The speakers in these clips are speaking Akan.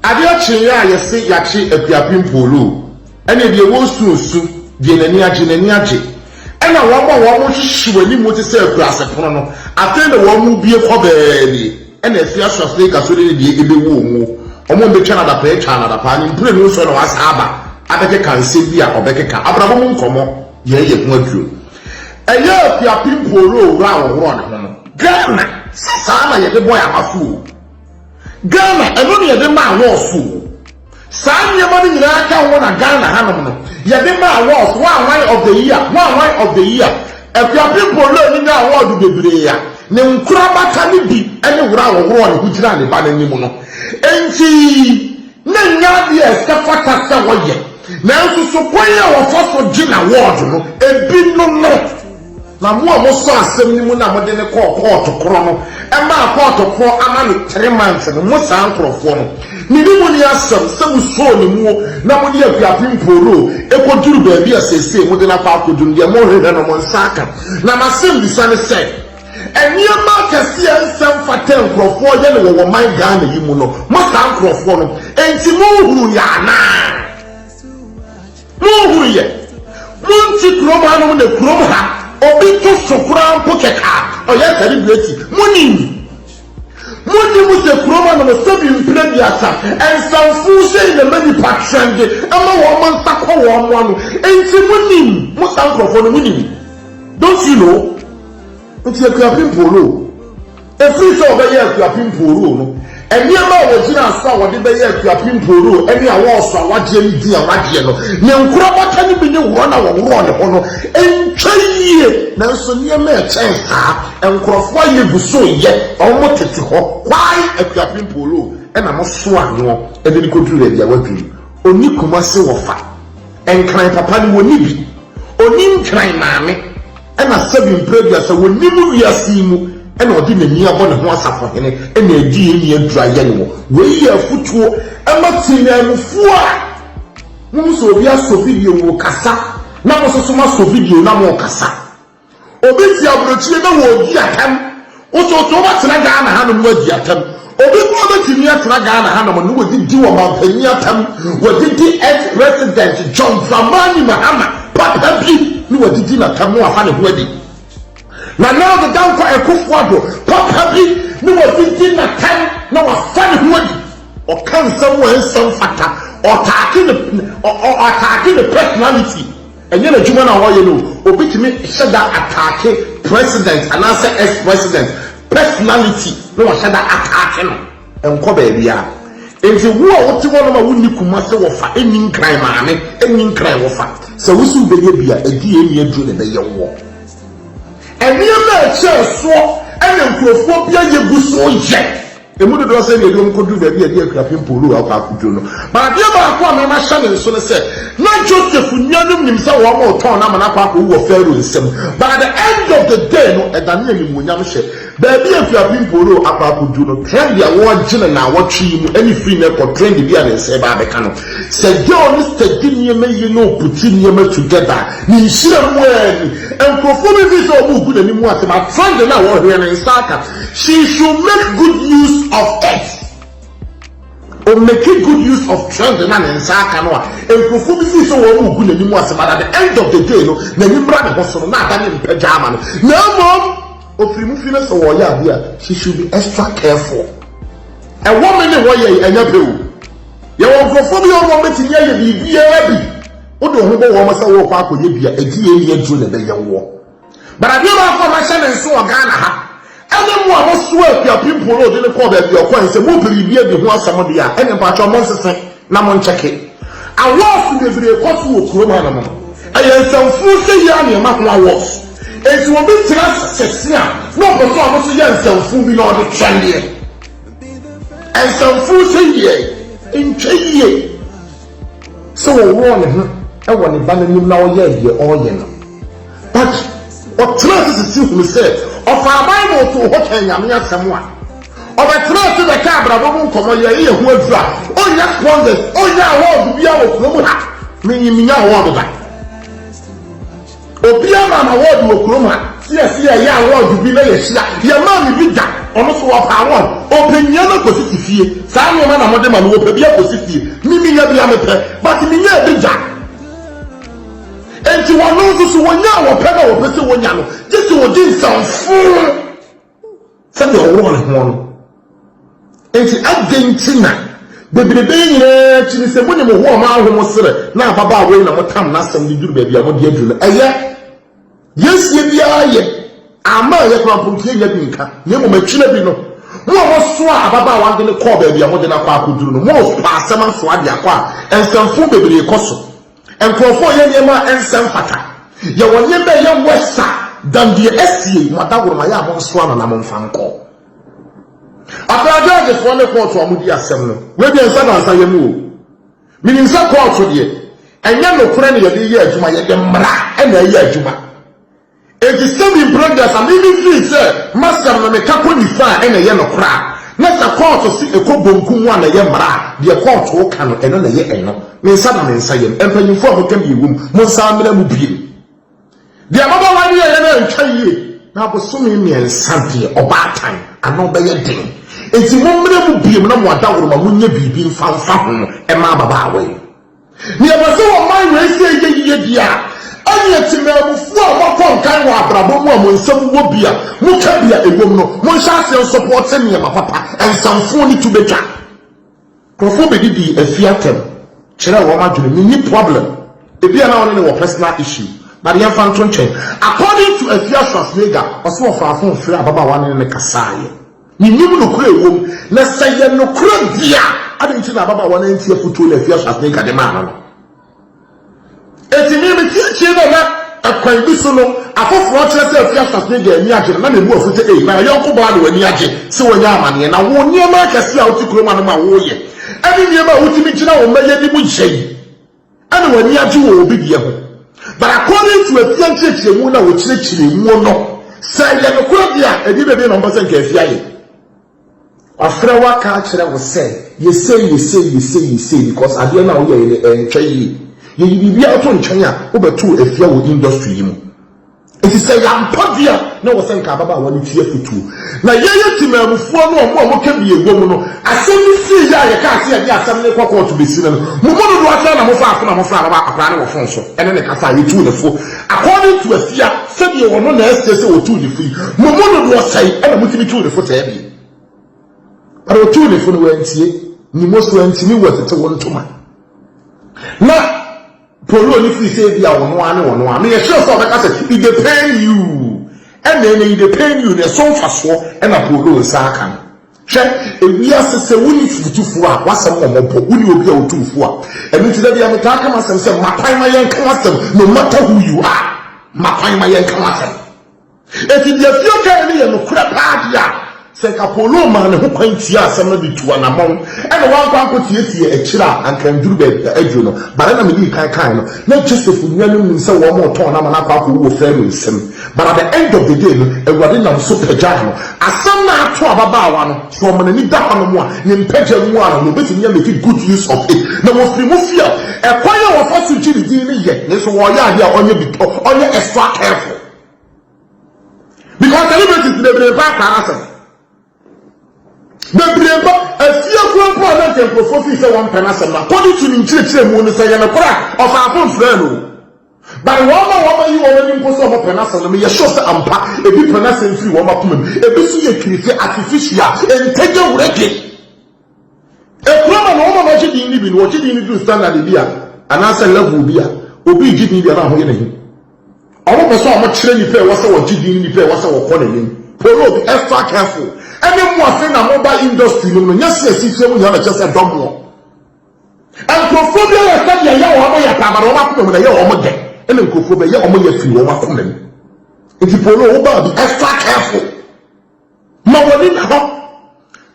Adeɛ kyeeɛ a yɛse yɛakye Akuapem Pooloo ɛneɛ deɛ wɔresu nsu, deɛ n'ani agye n'ani agye. Ɛna wɔn a wɔrehwehwe w'animu te sɛ akuraase pono no, afei na wɔrebue kɔ baabi. Ɛna afie asoasoɔ yi ka so dede deɛ ɛbɛwu wɔn o, wɔn a ɛbɛtwa no adapaa atwa no adapaa ne mprenu nso na wɔasan aba abɛkeka nsɛm bi a wɔbɛkeka, abrabɔ mu nkɔmmɔ, yɛn yɛ ho aduro. Ɛyɛ Akuapem Pooloo wura a ɔworɔ ne ho no. Ghana, sɛ saa na yɛde bɔ yɛn abaso o. Ghana, ɛno na yɛde ma awards o. Saa nneɛma no nyinaa ka ho na Ghana hanom no, yɛde ma awards, Wanwan of the year, Wanwan of the year. Akuapem Polloni nya award bebree a, ne nkorabata no bi ne woro a wɔworɔɔ ne ho gyinaa ne ba no anim no. Enti, na ɛnyɛ adeɛ a ɛsɛ fata sɛ wɔyɛ. Nanso, so kwan a wɔfa so gye no award no, ebinom no. Na mo a mosɔɔ asɛm no mu na mode no kɔɔ kɔɔto korɔ no maa kɔɔto korɔ ama no three months no, mo saa nkorɔfoɔ no, me ne mo nni asɛm sɛ mosɔɔ no muo na mode akuapem mpooroo kɔduru baabi a seesei mode no akɔ akɔduru no, deɛ mohwehwɛ no mo nsa aka. Na m'asɛmbisa ne sɛ, nneɛma akɛseɛ a ɛnsɛ mfata a nkorɔfoɔ yɛ no wɔ wɔ man Ghana yi mu no, mo saa nkorɔfoɔ no, ɛnti monhunu yɛ anaa? Monhunu yɛ? Monte kurom hanom na kurom ha obi to so koraa mpo kɛkɛ a, ɔyɛ atade dua ti. Monim? Monim sɛ kurom hanom sɛbi mpena biasa nsamfoo sei na ɛma nnipa trɛnde, ɛma wɔn nsa kɔ wɔn mo ano. Enti monim, mo saa nkurɔfoɔ no, monim. Don't you know? Enti Akuapem Polo. Ɛfiri sɛ wɔbɛyɛ Akuapem Mpooroo no, nneɛma a wɔgyinaa so a wɔde bɛyɛ Akuapem Mpooroo ne awɔɔso a wɔagyeɛ ne din a wɔagyeɛ no, ne nkorabata no bi ne worɔ no a wɔworɔɔ ne ho no ntwa yie. Nanso nneɛma a ɛkyɛn saa a nkurɔfoɔ ayɛ gu so reyɛ a wɔtete hɔ kwae Akuapem Mpooroo na moso ano de no kɔduru baabi a wɔadwiri. Ɔnni Kumase wɔfa. Nkran papa no wɔnni bi. Ɔnni Nkran maame. na sɛbi mprɛduasa wɔ nim wiase yi mu na ɔde n'ani abɔ ne ho asafo hene na adi yɛn nua dura yɛ no wɔ wei yɛ afutuo ɛma tenyan mufuo a mo mu sɛ obi asɔ video wɔ kasa na mo soso mo asɔ video na mo kasa obi te aburokyire na wɔ odi atam Wotooto wobɛtena Ghana hanom na woadi atam. Obi koraa bɛtumi atena Ghana hanom na wadidi wɔ mampanyin atam, wadidi ex-president John Dramani Mahama papa bi na wadidi n'atam na wafa ne ho adi. Nanado Dankwa Akuffo Addo papa bi na wadidi n'atam na wafa ne ho adi. Ɔka nsɛm a ɛnsɛ mfata, ɔataake ne, ɔ, ɔ, ɔataake ne personality. Ɛnyɛ n'adwuma na ɔyɛ no o, obi tumi hyɛ da ataake president anaasɛ ex president personality na wahyɛ da ataake no. Ɛnkɔ baabiara. Enti wo a wote hɔnom a wonni Kumasi wɔfa, nni Nkran maame, nni Nkran wɔfa, sɛ wo se wobɛyɛ bi a, ɛdeɛn ne aduro na ɛbɛyɛ woɔ? Nneɛma a ɛkyɛɛ soɔ na nkurɔfoɔ bi ayɛ gu so yɛ. Emu dodoɔ sɛn deɛ binom kɔduru baabi a ɛde akuapem pooloo akɔ akɔduru no. Ma adeɛ baako a mɛma ahyɛ ne nso ne sɛ, na Joseph nuanom nim sɛ wɔretɔn no ama no akɔ akɔwu wɔ Farao nsam. By the end of the day no, ɛdanee animuonyam hyɛ. Baabi a akuapem pooloo akɔ akɔduru no, trend a wɔregye no naawɔtwe yi mu ne firi nnɛ kɔ trend bi a ne nsa reba abɛka no. Sɛ girl no study nneɛma yie na ɔputi nneɛma together a, ne nhyira mu ara ni. Nkurɔfoɔ bɛfiri sɛ wɔregu n'anim atɛm a, trend no a wɔrehwɛ no, ne nsa aka. She should make good use of it. O make good use of trend na ne nsa aka no a, nkurɔfoɔ bi fii sɛ wɔn mu gu n'anim ase but at the end of the day no, n'ani mmra ne ho so no, na ada ne mpɛ gya ama no. Na mmom, ofiri mu fi no sɛ wɔyɛ adeɛ a, she should be extra careful. Ɛwɔ me ne hɔ yɛ ɛnyɛ pɛ o. Yɛwɔ nkurɔfoɔ bi a wɔn bɛtumi ayɛ biribiara bi. Wode wo ho bɔ wɔn sɛ wɔrekɔ akɔyɛ bi a, ɛgye yɛn ni aduro na ɛbɛyɛ woɔ. But adeɛ baako a mahyɛ ne nso wɔ Ghana ha, ɛne mo a mosoa Apia Pimpon na ɔde no kɔɔ baabi a ɔkɔe no, sɛ mopɛ biribi adi ho asɛm deɛ a, ɛneɛ mpakyɛw monsese na monkyɛke. Awɔɔso bebree kɔ so wɔ kurom hanom no, ɛyɛ nsɛmfuu sɛ yi ara na ɛma ho awɔɔso. Enti obi tena ase a na ɔpɛ sɛ ɔno nso yɛ nsɛmfuu bi na ɔde twɛn deɛ, nsɛmfuu sɛ yi deɛ, ɛntwa yie. sɛ ɔworɔɔ ne ho wɔ ne Ba no anim na ɔyɛɛ deɛ ɔreyɛ no. Paddy, ɔtenaa ase sisi hunu sɛ ɔfaa Bible too hɔ kaa Nyame asɛm a, ɔbɛtenaa ase bɛkaa abrabɔ mu nkɔmmɔ, yɛɛ yɛn ho aduru a, ɔnnya sponsors, ɔnnya award biara wɔ kurom ha, menye mennya award da. Obiara maa no awɔɔd wɔ kurom ha. Seɛ seɛ ɛyɛ awɔɔd bi na yɛhyia. Yɛmaa me bi da, ɔno nso ɔpɛ awɔɔd. Ɔpɛ nyia no akɔsi si fie. Saa nneɛma na mode ma no, ɔpɛ bi akɔsi fie. Me menya bi a mepɛ, but menyaa bi da. Enti ɔno nso so ɔnya a ɔpɛ na ɔpɛ sɛ ɔnya no, gye sɛ ɔdi nsɛmfoo. sɛdeɛ ɔworɔ ne ho no. Enti adɛn nti na bebrebe yi nyinaa akyi ne sɛ mo ne mo ho a mo aho mo serɛ na ababaawa yi na motam n'asɛm de duru baabi a mode aduru no? Ɛyɛ deɛ asie biara yɛ ama a ɛyɛ koraa mpo nti yɛnnya bi nka, na mmom akyire bi no mo a mosoaa ababaawa no de no kɔɔ baabi a mode no akɔ akɔduru no, morepa asɛm asoa de akɔ a nsɛmfoo bebree kɔ so. Nkurɔfo reyɛ nneɛma a ɛnsɛ mfata. Yɛwɔ nneɛma a ɛyɛ worse a than deɛ asi yei. Mo adaworomayɛ a monsoa no na momfa nkɔ. Akra gyɛɛgyefoɔ ne kɔɔto a wɔdi asɛm no, wei deɛ nsa baasa yɛ mu o. Menim sɛ kɔɔto deɛ, ɛnyɛ nokorɛ na yɛde reyɛ adwuma, yɛde mmara na ɛreyɛ adwuma. Enti sɛ me brothers a mimi feel sɛ masɛm no meka kɔ nifa a ɛna ɛyɛ nokorɛ a, na sɛ kɔɔto se ɛkɔ bonku mu a na ɛyɛ mmara a deɛ kɔɔto ka no ɛno na ɛyɛ ɛno me nsa na me nsa yɛm mpanyinfoɔ a moka deɛ ɛwom mo nsa mmena mu biom deɛ ababaawa no yɛeɛ no antwa yie na abosome mmiɛnsa deɛ ɔbaatan ano bɛyɛ den enti mommena mu biom na mo adaworoma monyɛ biribi mfa mfa ho mma ababaawa yi. Nea ɛba sɛ ɔman wei sɛ ɛyɛ yiye deɛ a, ɛneɛ temanmufoɔ a moakɔ nkan wɔ abrabɔ mu a mo nsam wɔ bi a moka bi a ɛwom no, monhyɛ aseɛ nsɔpɔɔte nneɛma papa, nsamfoɔ ne tubetwa. Nkurɔfoɔ bɛdidi afie atɛm kyerɛɛ wɔn adwene, menni problem, ebia na ɔne no wɔ personal issue, but yɛmfa nto nkyɛn. According to Afia Schwarzenegger, ɔse ɔfaa phone frɛɛ ababaawa ne ne kasaeɛ. Yenim nokorɛ a ɛwom, na sɛ ɛyɛ nokorɛ deɛ a, adɛn nti na ababaawa no antie afotuo no a afie asoase no agya de maa no no? Enti me, mete akyire dɛ na ɛkwan bi so no, afoforɔ kyerɛ sɛ afie asoase no agya ani agye no, na mebu afu sɛ, Ei, na yɔnko baa na w'ani agye sɛ wanya amaneɛ, na wo nneɛma akɛseɛ a wote kurom ha no ma woyɛ, ɛne nneɛma a wotumi gyina wo mma yɛ anim yɛ yi, Ɛna w'ani agye wɔ obi deɛ ho. But according to afie nkyerɛkyerɛmu no a wɔkyerɛkyerɛ mu no, sɛ ɛyɛ nokorɛ deɛ a, ɛdeɛ bɛdeɛ na wɔpɛ sɛ nka afie ayɛ? Wafrɛ wo aka akyerɛ wo sɛ yɛsei yɛsei yɛsei yɛsei because adeɛ no a woyɛeɛ no ɛntwa yie. Yɛyi biribiara to nkyɛn a, wobɛtoo afie wɔ industry yi mu. Enti sɛ yɛampɔ deɛ a, na ɛwɔ sɛ nka ababaawa no ti afutuo. Na yɛyɛ Temaamufoɔ no a wɔn a wɔka bi wɔ mu no, asɛm no fii yɛ a yɛkaa sɛ yɛde asɛm no rekɔ kɔɔto bɛsi nnɛ no, mo mu dodoɔ sɛn na mofaa fo na mofrɛɛ ababaa akwadaa no wɔ fon so ne ne kasa a yɛtuu no fo? According to Afia, sɛdeɛ ɔno na ɛsɛ sɛ wɔtu ne fo yi, mo mu dodoɔ sɛn na motumi tuu ne fo sɛɛ deɛ? But wɔtuu ne fo no, wantie. Nimo so antumi wɔ tete wo ntoma. Na. Polo no firi sɛ ebia ɔno ara ne ɔno ara. Meyɛ sure sɛ ɔbɛka sɛ, It dey pain you. Ɛnna ɛnnɛ, It dey pain you no, ɛso mfasoɔ na Polo nsa aka no. Hwɛ, ewiase sɛ wonni fotufoɔ a w'asɛm wɔ mmɔbɔ, wonni obi a ɔtu wo fo a. Ɛno nti, da biara metaa ka m'asɛm sɛ, Ma kwan ma yɛnka w'asɛm, no matter who you are, ma kwan ma yɛnka w'asɛm. Enti deɛ Theo kaeɛ no yɛ nokorɛ paa deɛ a, sɛ anka Paulo maa ne ho kwan tiaa asɛm no de tuu anammɔn na wankɔ ankɔteateaa akyire a, anka anduru baabi a aduru no. Bara na medii kan kaeɛ no, na Joseph nuanom nim sɛ wɔn retɔn no ama no akɔ akɔwu wɔ Farao nsam. But at the end of the day no, Awurade nam so pagyaa no. Asɛm no a ato ababaawa no, sɛ ɔma n'ani da hɔnom a, ne mpagya mu ara no, ɔbɛtumi nya make good use of it. Na wɔfiri mu feel ɛkwan a wɔfa so gye ne din no yɛ, nanso wɔreyɛ adeɛ a ɔnyɛ extra careful. because celebrities bebree ba akra n'asɛm bebree ba efie kura mpo a na nka nkurɔfoɔ fi sɛ wɔn pɛ n'asɛm na kɔdi tu ne nkyerɛkyerɛ mu no sɛ yɛn no kora ɔfaafo nfrɛ no bari wɔn a wɔn ayi wɔn ani mpo sɛ wɔn pɛ n'asɛm no yɛ sure sɛ ampa ebi pɛ n'asɛm firi wɔn akoma mu ebi nso yɛ kirifi artificial ntɛgya wurɛgye. Ɛkura ma na wɔn a wɔagye din no bi no, wɔgye din no duru standard bi a anaasɛ level bi a obi regye din biara a wɔyɛ n'ahi. Wɔpɛ sɛ wɔkyerɛ nnipa a ɛwɔ sɛ wɔgye din ne nnipa a ɛwɔ sɛ wɔkɔ n'anim. Prologue, Extra careful ne mo afe na moba industry no mu no, nyɛ sɛ asikyire mu hia na ɛkyerɛ sɛ dɔ moɔ. Nkurɔfoɔ bi ayɛ sɛ deɛ ɛyɛ wɔn yɛ paa, but wɔn akoma mu na ɛyɛ wɔn dɛ, ɛna nkurɔfoɔ bi ɛyɛ wɔn yɛ firi wɔn akoma mu. Nti Prologue, wobaa bi, Extra careful. Ma w'ani nna hɔ.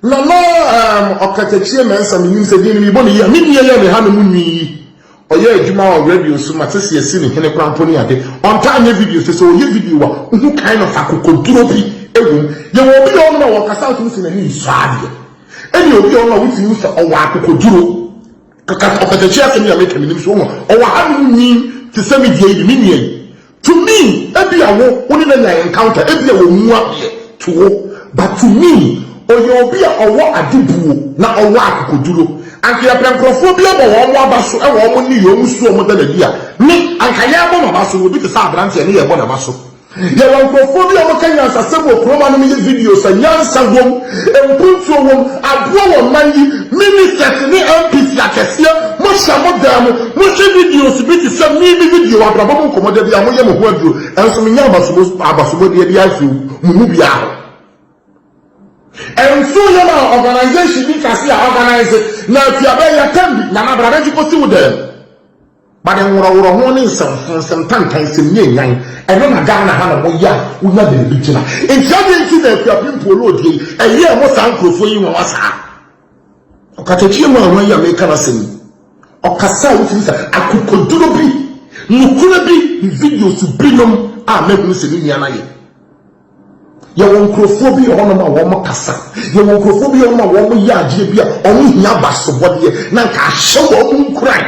Nana um, Ɔkatakyie Mensah menim sɛ din no mebɔ ne yi a, me nua yɛ ne ha no mu nwi yi. Ɔyɛ adwuma wɔ radio so, mate sɛ yɛsi ne hene koraa mpo ne ade. Ɔntaa nyɛ video sɛ sɛ ɔyɛ video a, wohu kind of akokoduro bi wom. Yɛwɔ obi a ɔnom a wɔkasa a wotumi sɛ n'ani nsɔ adeɛ. Ɛne obi a ɔnom a wotumi hu sɛ ɔwɔ akokoduro. Kaka ɔkatakyie asɛm yi a meka menim so wohu a ɔwɔ hanom nyin te sɛ me deɛ yi me nua yi to me ebia wo wo ne no anya encounter ebia wɔ mu adeɛ to wo but to me ɔyɛ obi a ɔwɔ ade buo na ɔwɔ akokoduro anka yɛpɛ nkorɔfoɔ bi abɔ wɔn mo aba so ɛwɔ wɔn nneyɛɛ wɔn su a wɔn da no adi a me anka yɛrebɔ m'aba so na obi te sɛ abranteɛ ne yɛrebɔ n'aba so Yɛwɔ nkurɔfoɔ bi a wɔka nyansasɛm wɔ kurom anom yɛ videos a nyansa wom, mpuntuo wom, aboa wɔn man yi, Ministers ne MPs akɛseɛ, mohyɛ mo dan mu, mohwɛ videos bi te sɛ me me video Abrabɔ mu Nkɔmmɔ da biara moyɛ mo ho aduro nso menya abasobɔ abasobɔdeɛ biara mfiri mo mu biara hɔ. Nsuo yɛ ma organisation bi kɛse a organise na atua bɛyɛ term bi, Nana bra bɛgye kɔsi wo dan mu. Bade nworɔworɔ ho ne nsɛmfo, nsɛm tantan, nsɛm nyanyan, ɛno na Ghana ha nom yɛ a wonya baabi gyina. Nti adɛn nti na Akuapem Pooloodie yi ɛyɛɛ mo saa nkurɔfoɔ yi nwanwa saa? Ɔkatakyie mu ahwan yi a meka n'asɛm yi, ɔkasa a wotumi sa akokoduro bi, nokorɛ bi ne videos binom a mɛhunu sɛ me nua no ayɛ. Yɛwɔ nkurɔfoɔ bi wɔ hɔnom a wɔn kasa. Yɛwɔ nkurɔfoɔ bi wɔ hɔnom a wɔn yɛ adeɛ bi a wɔn hia basobɔdeɛ. Na nka ahyɛ wɔn nkuran.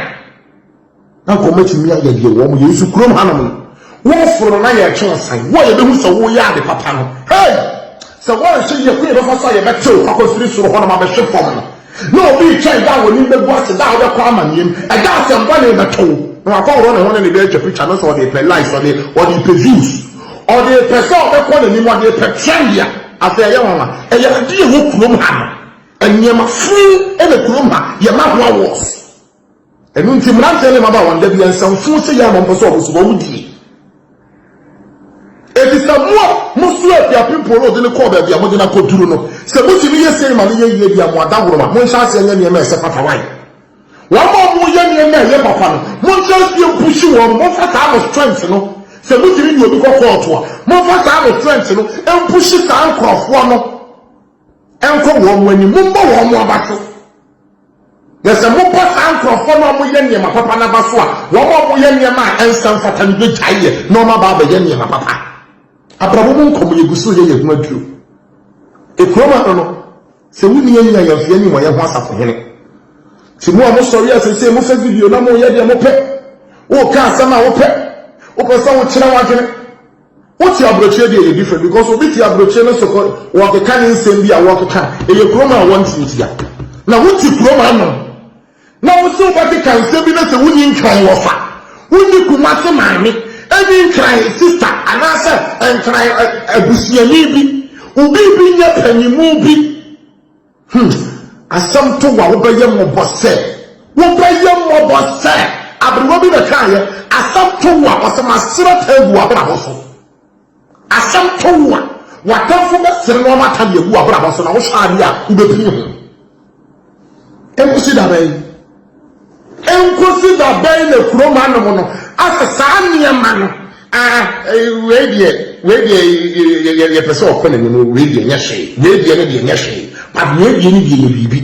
Na nka wɔn atumi ayɛ deɛ wɔn yɛ. Nso kurom hanom no, wɔforo no na yɛretwe ɔsan. Wo a yɛbɛhu sɛ woreyɛ ade papa no, hei! Sɛ wɔanhyɛ yie kwan a yɛbɛfa so a yɛbɛtew akɔfiri soro hɔnom abɛhwe fam no, Na obi retwɛn da a w'anim bɛgu ase, da a wobɛkɔ amanneɛm, ɛda a sɛm bɔne bɛto wo, na wakɔworɔ ne ho ne ne ba atwa pikya, no sɛ ɔde repɛ likes, ɔde ɔde repɛ views, ɔde repɛ sɛ ɔbɛkɔ n'anim, ɔde repɛ trend a, afei ɛyɛ nwanwa. Ɛyɛ ade a ɛwɔ kurom ha no. Nneɛma fuu na kurom ha, yɛma ho awards. Ɛno nti mmeranteɛ ne mmabaawa nnɛ deɛ nsɛmfoo hyɛ yɛn a na wɔmpɛ sɛ wɔn nso wɔn die. Efisɛ mo a moso afiape mpo no de no kɔɔ baabi a mode no akɔduru no, sɛ motumi yɛ sei ma no yɛ yie deɛ a, mo adaworoma, monhyɛ aseɛ nyɛ nneɛma a ɛsɛ fata. Wai? Wɔn a wɔyɛ nneɛma a ɛyɛ papa no, monhyɛ aseɛ mpushi wɔn, momfa saa mo strength no, sɛ motumi ne obi kɔ kɔɔto a, momfa saa mo strength no mpushi saa nkorɔfoɔ no. Nkɔ wɔn anim, mommɔ wɔn aba so. Na sɛ mobɔ saa nkurɔfoɔ no a wɔyɛ nneɛma papa no aba so a, wɔn a wɔyɛ nneɛma a ɛnsa mfata no bɛgyae yɛ na wɔn aba abɛyɛ nneɛma papa. Abrabɔ mu nkɔmmɔ yɛgu so yɛ yɛn ho aduro. Ekurom ano no, sɛ wonni yɛn nyina yɛn fie ne wɔn yɛn ho asafo hene. Ti mu a mosɔre a sese mofɛ video na moyɛ deɛ mopɛ. Woka asɛm a wopɛ. Wopɛ sɛ wokyerɛ w'adwene. Wote aburokyire deɛ ɛyɛ different because obi te aburokyire no so kɔ wɔkeka ne nsɛm bi a wɔkeka ɛyɛ kurom a wɔnte ntia na wote kurom ano na wo se wobɛkeka nsɛm bi na sɛ wonni nkran wɔ fa wonni kuma se maame ɛni nkran sista anaasɛ nkran abusuani bi obi bi nyɛ panyimu bi Hmm, asɛm to wo a wobɛyɛ mmɔbɔ sɛ, wobɛyɛ mmɔbɔ sɛ, aberewa bi na kaeɛ, asɛm to wo a ɔsɛ masrɛ ta agu w'abrabɔ so. Asɛm to wo a w'atamfo bɛsere na wɔn ata de agu w'abrabɔ so na wohwɛ adeɛ a wobɛpini ho. Ɛnkosi da bɛn? Enkosi da bɛn na kurom anom no asɛ saa nneɛma no? Ah, eh, wei deɛ, wei deɛ, yɛ- yɛ- yɛpɛ sɛ ɔkɔ n'anim, no, wei deɛ nyɛ hwee, wei deɛ no deɛ nyɛ hwee, but wei deɛ no deɛ yɛ biribi.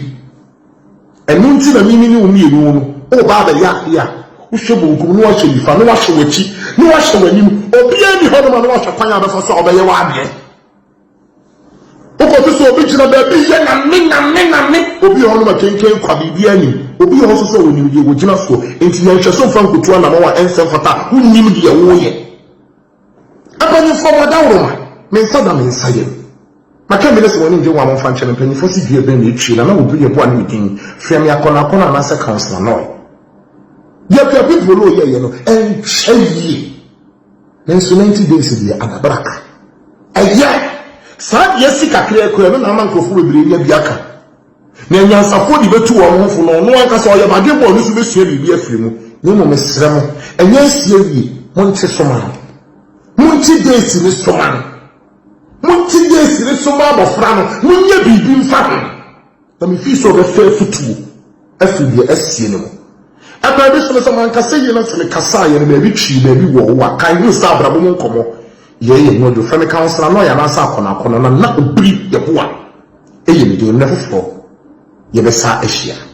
Ɛno nti na mimi ne wo mmienu no, woba abɛyɛ adeɛ a, wohwɛ bonkum na woahwɛ nifa na woahwɛ w'akyi na woahwɛ w'anim, obiara nni hɔnom a na woahwɛ kwan a wobɛfa so a wobɛyɛ w'adeɛ. Wokɔto sɛ obi gyina baabi yɛ name name name. Obi wɔ hɔ nom a kenken kwa biribiara nnim. Obi wɔ hɔ nso so a onim deɛ ogyina soɔ. Enti yɛ nhwɛso mfa nkotu anamɔn a ɛnsɛ mfata a wonnim deɛ woreyɛ. Mpanyinfoɔ mo adaworoma, me nsa da me nsa yam. Maka mmere sɛ wɔn ani ngye ho a momfa nkyɛ me. Mpanyinfoɔ se dua bɛn na etwie na na wɔbu yɛ boa ne me din. Frɛ me akɔnɔakɔnɔ anaasɛ Councillor Noi. Deɛ Akuapepro Low yɛeɛ no ɛnkyɛ yie. Nanso ninety days deɛ adabra ka. Ɛyɛ saa deɛ asi kakraa kura no na ama nkurɔfoɔ bebree anya bi aka. Nea anyansafoɔ de bɛtu wɔn ho fo no ɔno ankasa ɔyɛ badwemma ɔno nso bɛsua biribi afiri mu. Na mmom mesrɛ mo, ɛnyɛ asi awie, monte so ma no. Monte days no so ma no. Monte days no so ma abɔfra no, monyɛ biribi mfa ho. Na mefii sɛ ɔbɛfa afutuo afiri deɛ asie no mu. Ɛberɛ bi so no sɛ mankasa yie na sɛ mekasa yɛ no baabi twii baabi wɔ wo a kan hu sɛ abrabɔ mu nkɔmmɔ yɛ yɛ ho adwofrɛ me kansela na ɔyɛ anaasɛ akɔnɔ akɔnɔ na na obiri yɛboa ɛyɛ me din mmerɛ foforɔ yɛbɛsa ahyia.